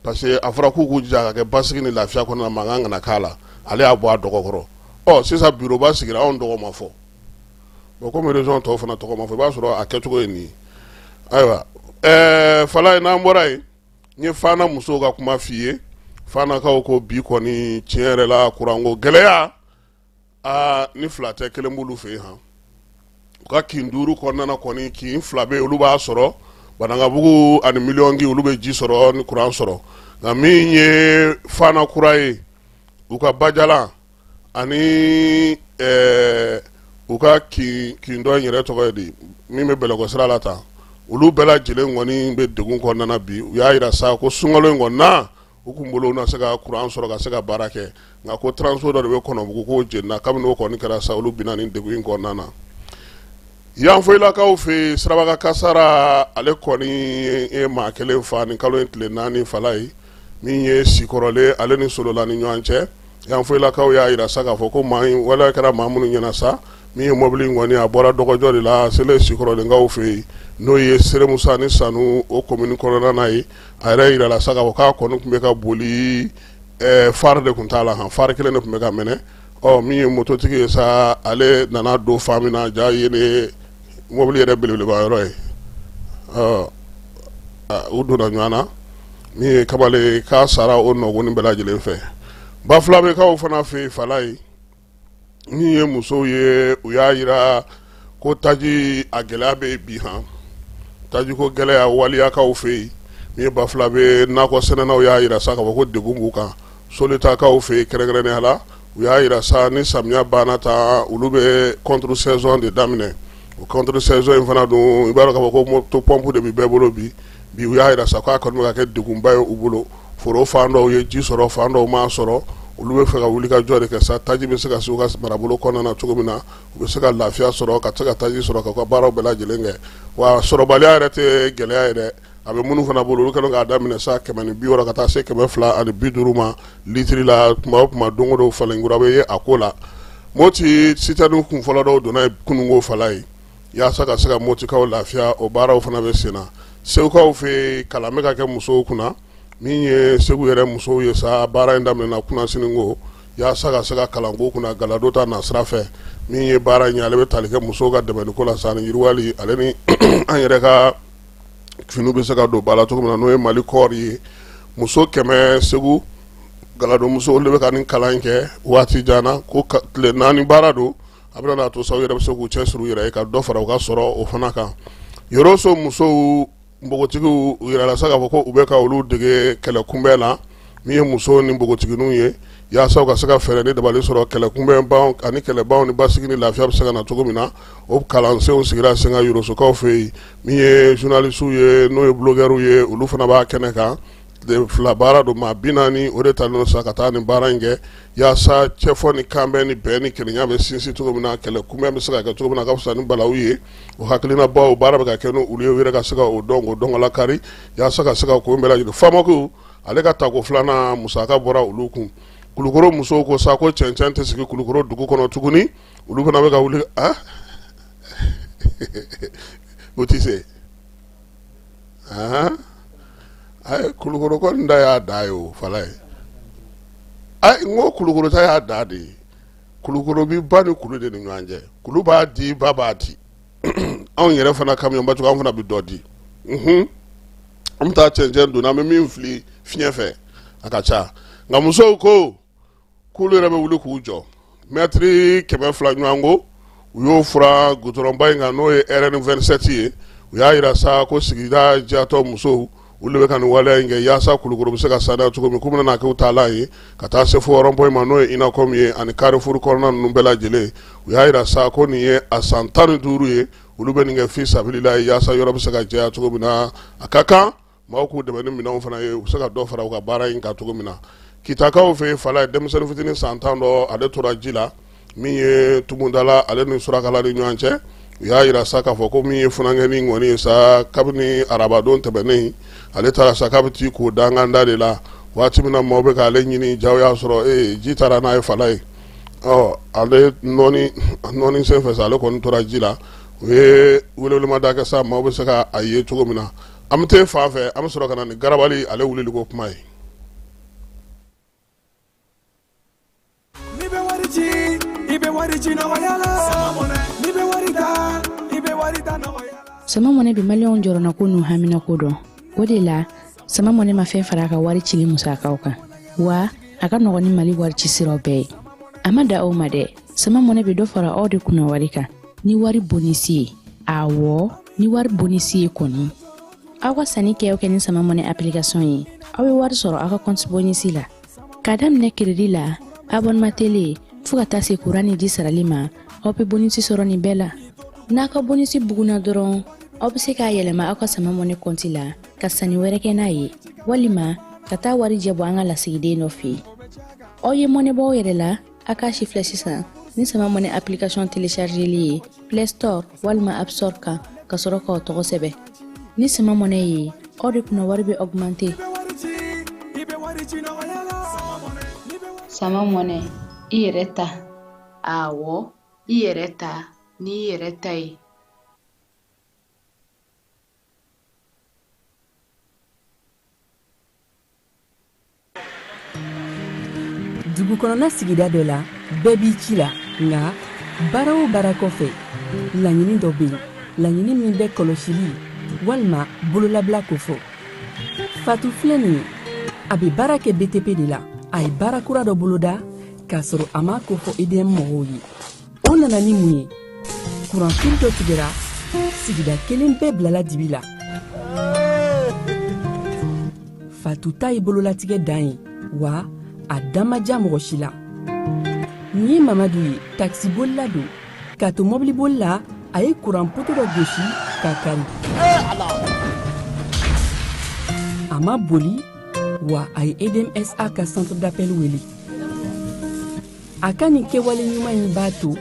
parce que a fɔra k'u k'u jija k'a kɛ basigi ni lafiya kɔnɔ mankan kana k'a la ale y'a bɔ a dɔgɔkɔrɔ ɔ sisan bureau ba sigira anw tɔgɔ ma fɔ bon kɔmi région tɔw fana tɔgɔ ma fɔ i b'a sɔrɔ a kɛcogo ye nin ayiwa eh, falayi n'an bɔra yen n ye fana musow ka kuma f'i ye fanakaw ko bi kɔni tiɲɛ yɛrɛ la kuranko gɛlɛya aa ni fila tɛ kelen b'olu fɛ yen han u ka kin duuru kɔnɔna kɔni kin fila bɛ olu b'a sɔrɔ banankabugu ani miliyɔnkin olu bɛ ji sɔrɔ ni kuran sɔrɔ nka min ye fana kura ye u ka bajalan ani ɛɛ u ka kin kin dɔ in yɛrɛ tɔgɔ ye di min bɛ bɛlɛkɔ sira la tan olu bɛɛ lajɛlen kɔni bɛ degun kɔnɔna bi u y'a jira sa ko sunkalo in kɔnɔna u kun bolo na se ka kuran sɔrɔ ka se ka baara kɛ nka ko transo dɔ de bɛ kɔnɔbugu k'o jenina kabini o kɔni kɛra sa olu binna nin degun in kɔnɔna na yanfoyilakaw fɛ siraba kan kasaara ale kɔni ye maa kelen fa nin kalo in tile naani falayi min ye sikɔrɔlen ale ni solola ni ɲɔgɔn cɛ yanfoyilakaw y'a jira sa k'a fɔ ko maa waleya kɛra maa minnu ɲɛna sa min ye mɔbili in kɔni a bɔra dɔgɔjɔ de la seli sikɔrɔlenkaw fɛ yen n'o ye seremusa ni sanu o komini kɔnɔna na ye a yɛrɛ jirala sa k'a fɔ k'a kɔni tun bɛ ka boli phare de tun t'a la phare kelen de tun bɛ ka mɛnɛ ɔ min ye mototigi ye sa ale nana don fan min na jaa yen mobili yɛrɛ belebeleba yɔrɔ ye u donna ɲɔgɔn na min ye kamalen k'a sara o nɔgɔnin bɛɛ lajɛlen fɛ bafulabɛkaw fana fɛ yen fala ye min ye musow ye u y'a jira ko taji a gɛlɛya bɛ bi han taji ko gɛlɛya waliyakaw fɛ yen min ye bafulabɛ nakɔsɛnɛnaw y'a jira sa k'a fɔ ko degun b'u kan solitakaw fɛ yen kɛrɛnkɛrɛnnenya la u y'a jira sa ni samiya banna tan olu bɛ contre saison de daminɛ o contre saison in fana dun i b'a dɔn k'a fɔ ko motopompe de bɛ bɛɛ bolo bi bi u y'a jira sa k'a kɔni bɛ ka kɛ degunba ye u bolo foro fan dɔw ye ji sɔrɔ fan dɔw m'a sɔrɔ olu bɛ fɛ ka wuli ka jɔ de kɛ sa taji bɛ se ka se u ka marabolo kɔnɔna na cogo min na u bɛ se ka lafiya sɔrɔ ka se ka taji sɔrɔ k'u ka baaraw bɛɛ lajɛlen kɛ wa sɔrɔbaliya yɛrɛ tɛ gɛlɛya ye dɛ a bɛ minnu fana bolo olu kɛlen k'a daminɛ sa kɛmɛ ni bi wɔɔrɔ ka taa se kɛmɛ fila ani bi duuru ma litiri la tuma o tuma don o don falen kura bɛ ye a ko la Moti sitɛriniw kun fɔlɔ dɔw donna kununko fala ye yaasa ka se ka Motikaw lafiya o baaraw fana bɛ sen na segukaw fɛ yen kalan bɛ ka kɛ musow kunna min ye segu yɛrɛ musow ye sa baara in daminɛna kunasininko yaasa ka se ka kalanko kunna galadon ta nasira fɛ min ye baara in ye ale bɛ tali kɛ musow ka dɛmɛniko la sa ani yiriwali ale ni an yɛrɛ ka finiw bɛ se ka don ba la cogo min na n'o ye mali kɔɔri ye muso kɛmɛ segu galadonmuso de bɛ ka nin kalan in kɛ waati jan na ko tile naani baara don a bɛ a to sa u yɛrɛ bɛ se k'u cɛsiri u yɛrɛ ye ka dɔ fara u ka sɔrɔw fana kan yɔrɔso musow npogotigiw a jirala sa k'a fɔ ko u bɛ ka olu dege kɛlɛ kunbɛn na min ye muso ni npogotigiw ye yaasa ka se ka fɛɛrɛ ni dabali sɔrɔ kɛlɛ kunbɛn ani kɛlɛban ni basigi ni lafiya bɛ se ka na cogo min na o kalansenw sigira sen kan yɔrɔsokaw fɛ yen min ye journalistes ye n'o ye blogueurs ye olu fana b'a kɛnɛ kan fila baara don maa bi naani o de talen sa ka taa nin baara in kɛ yaasa cɛfɔ ni kanbɛn ni bɛn ni kelenya bɛ sinsin cogo min na kɛlɛ kunbɛn bɛ se ka kɛ cogo min na ka fisa ni balawu ye o hakilina baw baara bɛ ka kɛ n'olu ye u yɛrɛ ka se o dɔn ko dɔnkala kari yaasa ka se ka ko bɛɛ jigin faama ale ka tako filanan musaka bɔra olu kun kulukɔrɔ musow ko sa ko cɛncɛn tɛ sigi kulukɔrɔ dugu kɔnɔ tuguni olu fana bɛ ka wuli o tɛ se a ye kulukɔrɔ kɔni da y'a da ye o falaye n ko kulukɔrɔ ta y'a da de ye kulukɔrɔ bɛ ba ni kulu de ni ɲɔgɔn cɛ kulu b'a di ba b'a di anw yɛrɛ fana kamiyɔnba cogo an fana bɛ dɔ di an bɛ taa cɛncɛn don an bɛ min fili fiɲɛ fɛ a ka ca nka musow ko k'olu yɛrɛ bɛ wuli k'u jɔ mɛtiri kɛmɛ fila ɲɔgɔn ko u y'o furan gudɔrɔnba in kan n'o ye rn27 ye u y'a jira sa ko sigida jɛyatɔn musow olu de bɛ ka nin waleya in kɛ yaasa kulukoro bɛ se ka saniya cogo min k'u bɛna kɛ taalan ye ka taa se fo rond-point ma n'o ye inacom ye ani karifuru kɔnɔna ninnu bɛɛ lajɛlen u y'a jira sa ko nin ye a san tan ni duuru ye olu bɛ nin kɛ fi sabililayi yaasa yɔrɔ bɛ se ka jɛya cogo min na a ka kan Maaw k'u dɛmɛ ni minɛnw fana ye u bɛ se ka dɔ fara u ka baara in kan cogo min na kitakaw fɛ falaye denmisɛnnin fitinin san tan dɔ ale tora ji la min ye tumundala ale ni surakala ni ɲɔgɔn cɛ u y'a jira sa k'a fɔ ko min ye funankɛnin kɔni ye sa kabini arabadon tɛmɛnen ale taara sa k'a bɛ t'i ko danganda de la waati min na maaw bɛ k'ale ɲini jaa y'a sɔrɔ ji taara n'a ye falaye ɔ ale nɔnni sen fɛ sa ale kɔni tora ji la u ye weleweleda kɛ sa maaw bɛ se k' a ye cogo min na an bɛ taa fan fɛ an bɛ sɔrɔ ka na ni garabali ale wulili ko kuma ye bɛ wari ci i bɛ wari ci la bɛ wari i bɛ wari sama mɔnɛ bɛ maliyɛnw jɔrɔnako n'u haminako dɔn o de la sama mɔnɛ ma fɛn fara a ka wari cili musakaw kan wa a ka nɔgɔn ni mali wari ci siraw bɛɛ ye a ma dan o ma dɛ sama mɔnɛ bɛ dɔ fara aw de kunna wari kan ni wari bonisi ye awɔ ni wari bonisi ye kɔni aw ka sanni kɛ kɛ ni sama mɔnɛ application ye aw bɛ wari sɔrɔ aw ka kɔnti bonisi la k'a daminɛ kiredi la abonema tele fo ka taa se kuran ni ji sarali ma aw bɛ bonisi sɔrɔ nin bɛɛ la n'a ka bonisi bugunna dɔrɔn aw bɛ se k'a yɛlɛma aw ka sama mɔnɛ kɔnti la ka sanni wɛrɛ kɛ n'a ye walima ka taa warijɛ bɔ an ka lasigiden dɔ fɛ aw ye mɔnɛ bɔ aw yɛrɛ la a k'a sifilɛ sisan ni sama mɔnɛ application téléchargeli ye play store walima app store kan ka sɔrɔ k'aw tɔgɔ sɛbɛn ni sama mɔnɛ ye aw de kunna wari bɛ augmenter sama mɔnɛ i yɛrɛ ta awɔ i yɛrɛ ta n'i yɛrɛ ta ye dugukɔnɔna sigida dɔ la bɛɛ b'i ci la nka baara o baara kɔfɛ laɲini dɔ bɛ yen laɲini min bɛ kɔlɔsili walima bololabila ko fɔ fatu filɛ nin ye a bɛ baara kɛ btp de la a ye baara kura dɔ boloda k'a sɔrɔ a m'a ko fɔ edm mɔgɔw ye o nana ni mun ye kuranfili dɔ tigɛra sigida kelen bɛɛ bilala dibi la fatu ta ye bololatigɛ dan ye wa a dan ma ja mɔgɔ si la nin ye mamadu ye takisibolila don k'a to mɔbiliboli la a ye kuran poto dɔ gosi k'a kari a ma boli wa a ye edmsa ka centre d'appel wele a ka nin kɛwale ɲuman in b'a to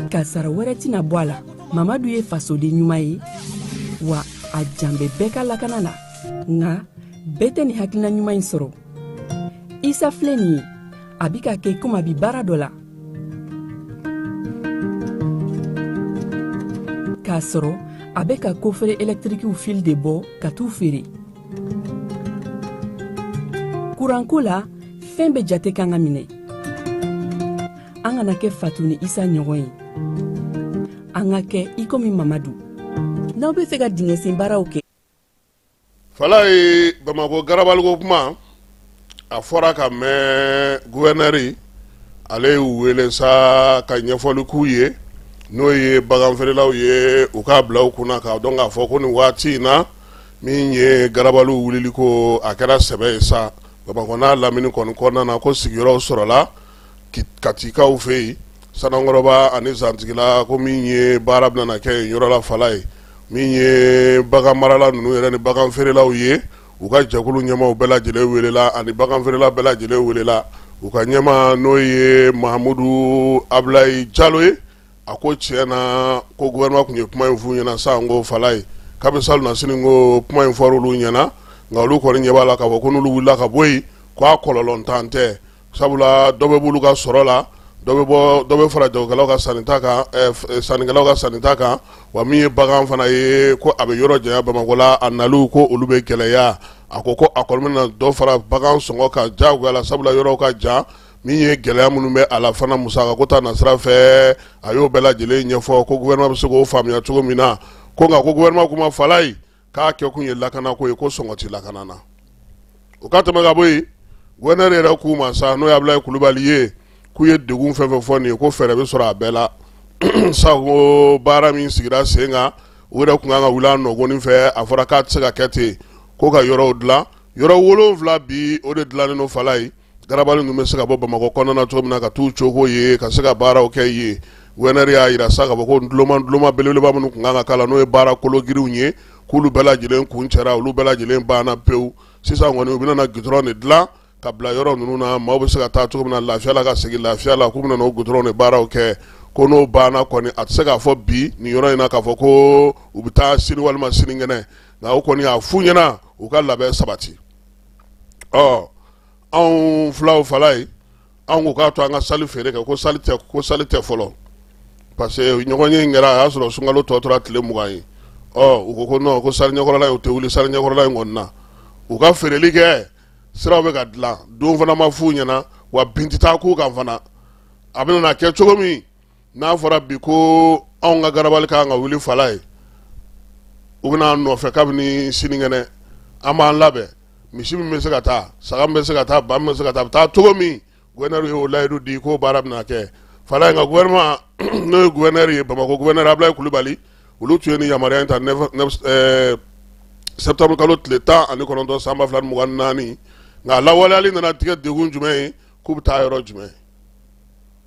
kasaara wɛrɛ tɛna bɔ a la mamadu ye fasoden ɲuman ye wa a jan bɛ bɛɛ ka lakana na nka bɛɛ tɛ nin hakilina ɲuman in sɔrɔ isa filɛ nin ye a bi k'a kɛ komi a bi baara dɔ la k'a sɔrɔ a bɛ ka kofere ɛlɛtirikiw fili de bɔ ka t'u feere kuranko la fɛn bɛɛ jate kan ka minɛ an kana kɛ fatu ni isa ɲɔgɔn ye an ka kɛ i komi mamadu n'aw b'a fɛ ka dingɛsen baaraw kɛ falaye bamakɔ garabaliko kuma a fɔra ka mɛn gouverneur ale y'u wele sa ka ɲɛfɔli k'u ye n'o ye bagan feerelaw ye u k'a bila u kunna k'a dɔn k'a fɔ ko nin waati in na min ye garabaliw wulili ko a kɛra sɛbɛ ye sa bamakɔ n'a lamini kɔni kɔnɔna na ko sigiyɔrɔw sɔrɔla katikaw fɛ yen sanankɔrɔba ani zantigila ko min ye baara bɛna kɛ yen yɔrɔ la falaye min ye bagan marala ninnu yɛrɛ ni bagan feerelaw ye u ka jɛkulu ɲɛmaaw bɛɛ lajɛlen welela ani bagan feerela bɛɛ lajɛlen welela u ka ɲɛmaa n'o ye Mahamudu Abulayi Jalo ye a ko tiɲɛ na ko gouvernement tun ye kuma in f'u ɲɛna sa nko falaye kabi salonnasini ko kuma in fɔr'olu ɲɛna nka olu kɔni ɲɛ b'a la k'a fɔ ko n'olu wulila ka bɔ yen ko a kɔlɔlɔntan tɛ sabula dɔ bɛ b'olu ka sɔrɔ la dɔ bɛ fara jagokɛlaw ka sannita kan sannikɛlaw ka sannita kan wa min ye bagan fana ye ko a bɛ yɔrɔ janya bamakɔ la a naliw ko olu bɛ gɛlɛya a ko ko a kɔni na dɔ fara bagan sɔngɔ kan jagoya la sabula yɔrɔw ka jan min ye gɛlɛya minnu bɛ a la fana musakako ta nasira fɛ a y'o bɛɛ lajɛlen ɲɛfɔ ko gouvernement bɛ se k'o faamuya cogo min na ko nka ko gouvernement kuma falaye k'a kɛ kun ye lakana ko ye ko sɔngɔ tɛ lakana na o ka tɛmɛ ka bɔ yen gouverneur yɛrɛ kuma sa n'o ye abulayi kulubali ye k'u ye degun fɛn fɛn fɔ nin ye ko fɛɛrɛ bɛ sɔrɔ a bɛɛ la sango baara min sigira sen kan u yɛrɛ tun kan ka wuli a nɔgɔni fɛ a fɔra k'a tɛ se ka kɛ ten ko ka yɔrɔw dilan yɔrɔ wolonwula bi o de dilannen don falaye garabali ninnu bɛ se ka bɔ bamakɔ kɔnɔna na cogo min na ka t'u cogo ye ka se ka baaraw kɛ yen gouverneur y'a jira sa k'a fɔ ko duloma duloma belebeleba minnu tun kan ka k'a la n'o ye baara kologirinw ye k'olu bɛɛ lajɛlen kuncɛra olu bɛɛ lajɛlen banna pewu sisan kɔni u bɛna gudɔrɔn de dilan ka bila yɔrɔ ninnu na maaw bɛ se ka taa cogo min na lafiya la ka segin lafiya la k'u bɛna o gudɔrɔn de baaraw kɛ ko n'o banna kɔni a tɛ se k'a fɔ bi nin yɔrɔ in na k'a fɔ ko u bɛ taa sini walima sinikɛnɛ nka o kɔni y'a f'u ɲɛna u ka labɛn sabati ɔ anw fulaw fala ye anw ko k'a to an ka sali feere kɛ ko sali tɛ fɔlɔ parce que ɲɔgɔnye in kɛra a y'a sɔrɔ sunkalo tɔ tora tile mugan ye ɔ u ko ko non ko sali ɲɛkɔrɔla in u tɛ wuli sali ɲɛkɔrɔla in kɔni na u ka feereli kɛ siraw bɛ ka dilan don fana ma f'u ɲɛna wa bin tɛ taa k'u kan fana a bɛna na kɛ cogo min n'a fɔra bi ko anw ka garabali kan ka wuli fala ye u bɛna nɔfɛ kabini sinikɛnɛ an b'an labɛn misi min bɛ se ka taa saga min bɛ se ka taa ba min bɛ se ka taa a bɛ taa cogo min gouverneur y'o layidu di k'o baara bɛna kɛ fala nka gouvernement n'o ye gouverneur ye bamakɔ gouverneur ablaye kulubali olu tun ye ni yamaruya in ta septembre kalo tile tan ani kɔnɔntɔn san ba fila mugan naani nka a lawaleyali nana tigɛ de kun jumɛn ye k'u bɛ taa yɔrɔ jumɛn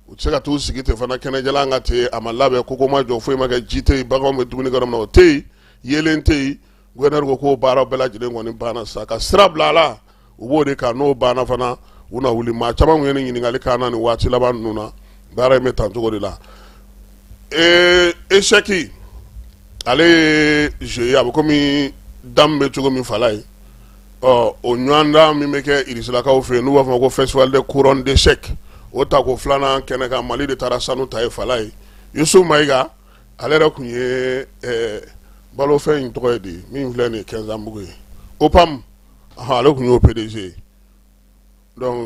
u tɛ se ka t'u sigi ten fana kɛnɛjalan kan ten a ma labɛn koko ma jɔ foyi ma kɛ ji tɛ yen baganw bɛ dumuni kɛ yɔrɔ min na o tɛ yen yeelen tɛ yen gouverneur ko k'o baaraw bɛɛ lajɛlen kɔni banna sa ka sira bila a la u b'o de kan n'o banna fana u na wuli maa caman tun ye nin ɲininkali k'an na nin waati laban ninnu na baara in bɛ tan cogo de la ee échec ale ye jeu ye a bɛ komi dame bɛ cogo min fala ye ɔ o ɲɔgɔndan min bɛ kɛ irisilakaw fɛ yen n'u b'a fɔ ko festival de couronne d'échec o tako filanan kɛnɛ kan mali de taara sanu ta ye fala ye yusuf mayiga ale yɛrɛ tun ye balofɛn in tɔgɔ ye di min filɛ nin ye kɛnzanbugu ye opam ale tun y'o pdg ye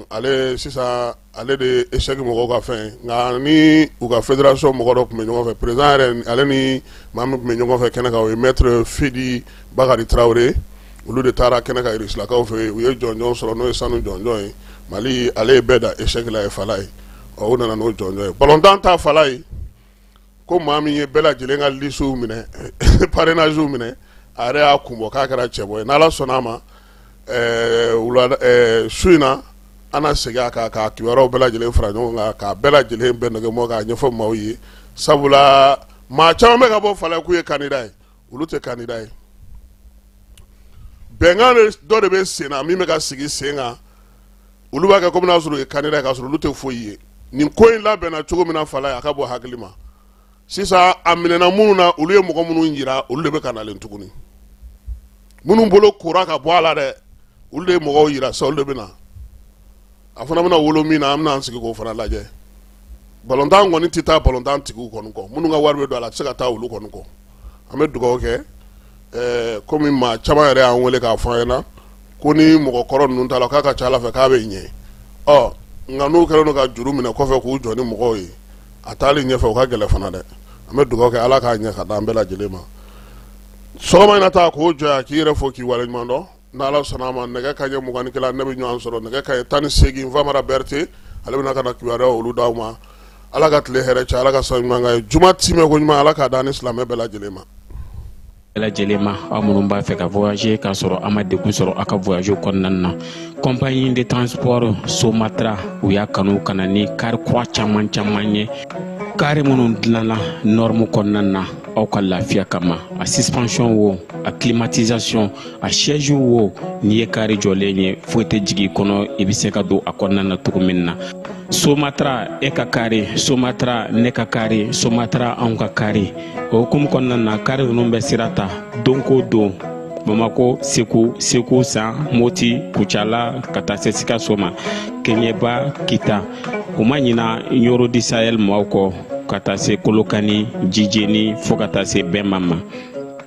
ale sisan ale de échec mɔgɔw ka fɛn nka ni u ka fédération mɔgɔ dɔ tun bɛ ɲɔgɔn fɛ président yɛrɛ ale ni maa min tun bɛ ɲɔgɔn fɛ kɛnɛ kan o ye maître fide bakari tarawele olu de taara kɛnɛ kan irisilakaw fɛ u ye jɔnjɔn sɔrɔ n'o ye sanu jɔnjɔn ye mali ale ye bɛɛ dan échec la yen fala ye o nana n'o jɔnjɔn ye balontan ta fala ye ko maa min ye bɛɛ lajɛlen ka lisiw minɛ parrainagew minɛ a yɛrɛ y'a kun bɔ k'a kɛra cɛbɔ ye n'ala sɔnna a ma su in na an na segin a kan k'a kibaruw bɛɛ lajɛlen fara ɲɔgɔn kan k'a bɛɛ lajɛlen bɛn nɛgɛ bɔ k'a ɲɛfɔ maaw ye sabula maa caman bɛ ka bɔ fala k'u ye candidat ye olu tɛ candidat ye bɛnkan dɔ de bɛ sen na min bɛ ka sigi sen kan olu b'a kɛ komi n'a sɔrɔ u ye candidat ye k'a sɔrɔ olu tɛ foyi ye nin ko in labɛnna cogo min na fa ye a ka bɔ hakili ma sisan a minɛna minnu na olu ye mɔgɔ minnu jira olu de bɛ ka nalen tuguni minnu bolo kora ka bɔ a la dɛ olu de ye mɔgɔw jira sa olu de bɛ na a fana bɛna wolo min na an bɛna an sigi k'o fana lajɛ balontan kɔni tɛ taa balontan tigiw kɔni kɔ minnu ka wari bɛ don a la a tɛ se ka taa olu kɔni kɔ an bɛ dugawu kɛ ɛɛ komi maa caman yɛrɛ y'an wele k'a fɔ an ɲɛna ko ni mɔgɔ kɔrɔ ninnu t'a la k'a ka ca Ala fɛ k'a bɛ ɲɛ ɔ nka n'u kɛlen don ka juru minɛ kɔfɛ k'u jɔ ni mɔgɔw ye a taali ɲɛfɛ o ka gɛlɛn fana dɛ an bɛ dugawu kɛ Ala k'a ɲɛ ka d'an bɛɛ lajɛlen ma sɔgɔma in na ta k'o jɔ yan k'i yɛrɛ fo k'i waleɲuman dɔn N' ala sɔnna a ma nɛgɛ kanɲɛ mugan ni kelen an bɛ ɲɔgɔn sɔrɔ nɛgɛ kanɲɛ tan ni segin famara berete ale bɛna ka kibaruya olu d' aw ma ala ka tile hɛrɛ caya ala ka sa ɲuman ye juma tɛmɛ ko ɲuman ala k'a d'an ni silamɛ bɛɛ lajɛlen ma lajɛlen ma aw minnu b'a fɛ ka voyager k'a sɔrɔ a ma degun sɔrɔ a ka voyage kɔnɔna na compagnie de transport somatra u y'a kanu ka na ni kari kura caman caman ye kari minnu dilanna norme kɔnɔna na aw ka lafiya kama a suspension wo a climatisation a siège wo n'i ye kari jɔlen ye foyi tɛ jigin i kɔnɔ i bɛ se ka don a kɔnɔna na cogo min na somatra e ka kari somatra ne ka kari somatra anw ka kari o hukumu kɔnɔna na kari ninnu bɛ sira ta don ko don bamako segu segu san moti kucala ka taa se sikaso ma keɲɛba kita u ma ɲina ɲoro du sahel maaw kɔ ka taa se kolokani jijeni fo ka taa se bema ma